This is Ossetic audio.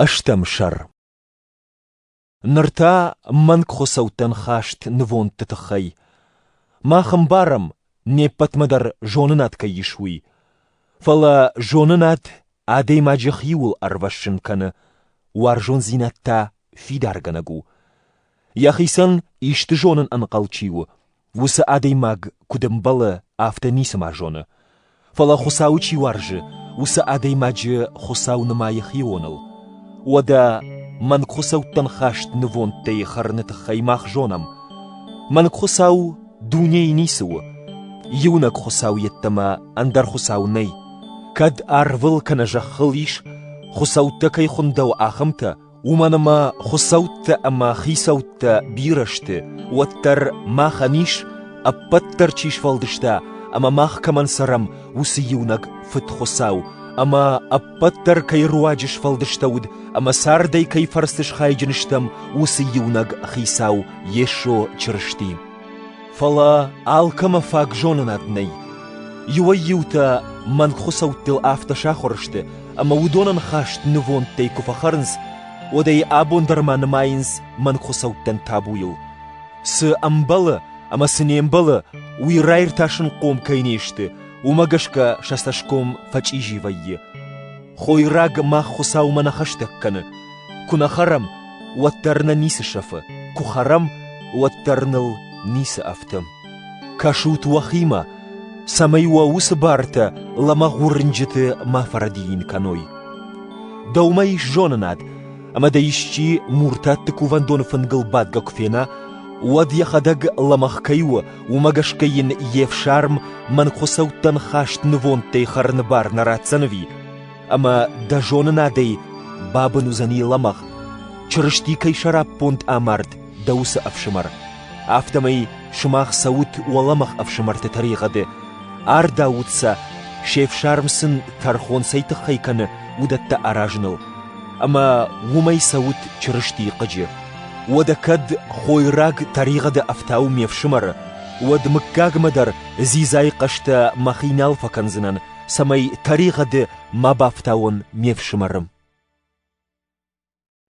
Ӕстӕм сӕр Ныр та мӕнгхуыцӕуттӕн хӕст нывондты тыххӕй. Мах ӕмбарӕм, не ппӕтмӕ дӕр зонынад кӕй ис, уый. Фӕлӕ зонынад адӕймаджы хиуыл ӕрвӕссын кӕны, уарзондзинад та фидаргӕнӕг у. Йӕхицӕн исты зонын ӕнхъӕл чи у, Уыцы адӕймаг куыд ӕмбӕлы, афтӕ ницыма зоны. Фӕлӕ Хуыцауы чи уарзы, уыцы адӕймаджы Хуыцау нымайы хионыл. Уӕдӕ мӕнгхуыцӕуттӕн хаст нывондтӕй хӕрыны тыххӕй мах зонӕм. Мӕнгхуыцау дунейы ницы у. Иунӕг Хуыцау йеддӕмӕ ӕндӕр Хуыцау нӕй. Кӕд арвыл кӕнӕ зӕххыл ис, хуыцӕуттӕ кӕй хуындӕуы, ахӕмтӕ, Уымӕн ӕмӕ хуыцӕуттӕ ӕмӕ хицӕуттӕ бирӕ сты, уӕддӕр махӕн ис, ӕппӕт дӕр чи сфӕлдыста ӕмӕ мах кӕмӕн цӕрӕм, уыцы иунӕг Фыдхуыцау, ӕмӕ ӕппӕт дӕр кӕй руаджы сфӕлдыстӕуыд ӕмӕ цардӕй кӕй фӕрцы схайджын стӕм, уыцы иунӕг Хицау Йесо Чырысти. Фӕлӕ алкӕмӕ фаг зонынад нӕй. Иуӕй-иутӕ мӕнг хуыцӕуттыл афтӕ сахуыр сты, ӕмӕ уыдонӕн хӕст нывондтӕй куы фӕхӕрынц, уӕд ӕй абон дӕр ма нымайынц мӕнгхуыцӕуттӕн табуйыл. Цы ӕмбӕлы ӕмӕ цы не мбӕлы, уый раиртасынхъом кӕй не сты, уымӕ гӕсгӕ сӕ цӕсгом фӕчъизи вӕййы. Хойраг мах Хуыцаумӕ нӕ хӕстӕг кӕны. Куы нӕ хӕрӕм, уӕддӕр нӕ ницы сӕфы, куы хӕрӕм, уӕддӕр ныл ницы ӕфтӕм. Кӕсут уӕхимӕ, цӕмӕй уӕ уыцы бартӕ лӕмӕгъ уырнджыты ма фӕрӕдийын кӕной. Дӕумӕ ис зонынад, ӕмӕ дӕ исчи муртатты кувӕндоны фынгыл бадгӕ куы фена, уӕд йӕхӕдӕг лӕмӕгъ кӕй у Уымӕ гӕсгӕ йын йе фсарм мӕнгхуыцӕуттӕн хаст нывондтӕй хӕрыны бар нӕ ратдзӕн ӕви? Ӕмӕ дӕ зонынадӕй бабын уыдзӕни лӕмӕгъ, Чырысти кӕй сӕраппонд амард дӕ уыцы ӕфсымӕр. Афтӕмӕй сымах цӕут уӕ лӕмӕгъ ӕфсымӕрты тӕригъӕды, ардаут сӕ, се фсарм сын тӕрхон цӕй тыххӕй кӕны, уыдӕттӕ аразыныл. Ӕмӕ уымӕй цӕут Чырыстийы хъыджы. Уӕдӕ кӕд хойраг тӕригъӕды ӕфтау ме фсымӕры, уӕд мыггагмӕ дӕр дзидзайы хъӕстӕ мӕхи нал фӕкӕндзынӕн, цӕмӕй тӕригъӕды ма бафтауон ме фсымӕры.